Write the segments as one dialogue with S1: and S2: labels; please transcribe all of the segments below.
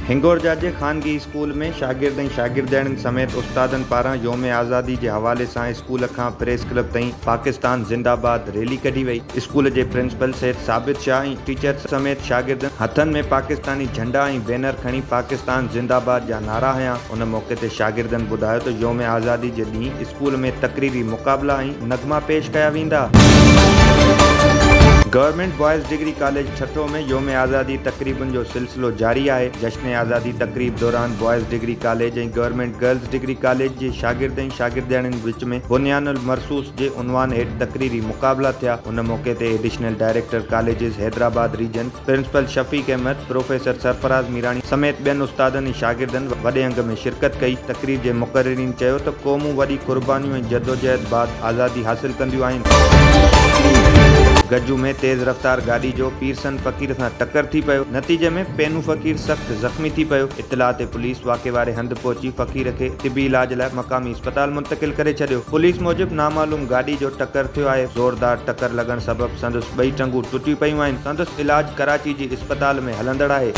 S1: هنگورجا جي خانگي اسڪول ۾ شاگرد ۽ شاگردياڻين سميت استادن پاران يوم آزادي جي حوالي سان اسڪول کان پريس ڪلب تائين پاڪستان زنده باد ريلي ڪڍي وئي اسڪول جي پرنسپل سيد ثابت شاهه ۽ ٽيچرس سميت شاگردن هٿن ۾ پاڪستاني جهنڊا ۽ بينر کڻي پاڪستان زنده باد جا نعرا هنيا. ان موقعي تي شاگردن ٻڌايو ته يوم آزادي جي ڏينهن اسڪول ۾ تقريبي مقابلا ۽ نغما پيش ڪيا ويندا. Government boys degree college Thatta ۾ يوم آزادي تقريبن جو سلسلو جاري آهي، جشن آزادي تقريب دوران boys degree college ۽ government girls degree college جي شاگرد ۽ شاگردياڻين وچ ۾ بنيان المرصوص جي عنوان هيٺ تقريري مقابلا ٿيا، ان موقعي تي additional director colleges Hyderabad region. Principal Shafiq Ahmed, professor Sarfaraz Mirani سميت ٻين استادن ۽ شاگردن وڏي انگ ۾ شرڪت ڪئي. تقريب جي مقررين چيو ته قومون وڏي قربانيون ۽ جدوجهد بعد آزادي حاصل ڪنديون آهن. گجو ۾ تيز رفتار گاڏي جو پيرسن فقير سان ٽڪر ٿي پيو، نتيجي ۾ پينو فقير سخت زخمي ٿي پيو. اطلاع تي پوليس واقعي واري هنڌ پهچي فقير کي طبي علاج لاء مقامي اسپتال منتقل ڪري ڇڏيو. پوليس موجب نامعلوم گاڏي جو ٽڪر ٿيو آهي، زوردار ٽڪر لڳڻ سبب سندس ٻئي ٽنگون ٽٽي پيون آهن، سندس علاج ڪراچي جي اسپتال ۾ هلندڙ آهي.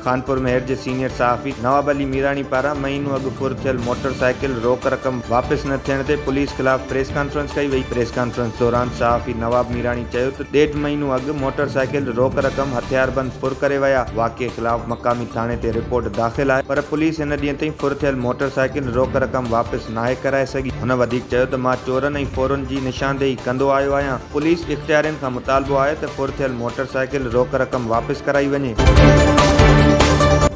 S1: خانپور مهر جي سينيئر صحافي نواب علي ميراڻي پاران مهينو اڳ ڦر ٿيل موٽر سائيڪل روڪ رقم واپس نه ٿيڻ تي پوليس خلاف پريس ڪانفرنس ڪئي وئي، پريس ڪانفرنس دوران صحافي نواب ميراڻي چيو ته ڏيڍ مهينو اڳ موٽر سائيڪل روڪ رقم هٿياربند ڦر ڪري ويا، واقعي خلاف مقامي ٿاڻي تي رپورٽ داخل آهي پر پوليس هن ڏينهن تائين ڦر ٿيل موٽر سائيڪل روڪ رقم واپس ناهي ڪرائي سگهي، هن وڌيڪ چيو ته مان چورن ۽ ڦرن جي نشاندهي ڪندو آيو آهيان، پوليس اختيارين کان مطالبو آهي ته ڦر ٿيل موٽر سائيڪل روڪ رقم واپس ڪرائي وڃي.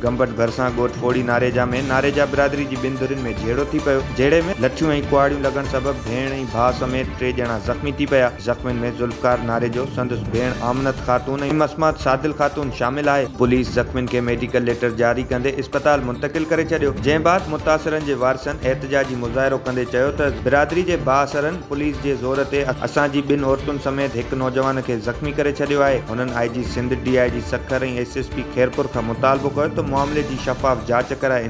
S1: گمبٽ ڀرسان ڳوٺ پوڙهي ناريجا ۾ ناريجا برادري جي ٻن ڌرين ۾ جهيڙو ٿي پيو، جهيڙي ۾ لٺيون ۽ ڪهاڙيون لڳڻ سبب ڀيڻ ۽ ڀاء سميت ٽي ڄڻا زخمي ٿي پيا، زخمين ۾ ذوالفقار ناريجو، سندس ڀيڻ آمنت خاتون ۽ مسمات سادل خاتون شامل آهي، پوليس زخمين کي ميڊيڪل ليٽر جاري ڪندي اسپتال منتقل ڪري ڇڏيو، جنهن بعد متاثرن جي وارثن احتجاجي مظاهرو ڪندي چيو ته برادري جي بااثرن پوليس جي زور تي اسان جي ٻن عورتن سميت هڪ نوجوان کي زخمي ڪري ڇڏيو آهي، هنن I G Sindh, D I G Sukkur ۽ S S P Khairpur کان مطالبو ڪيو ته معاملي جي شفاف جاچ ڪرائي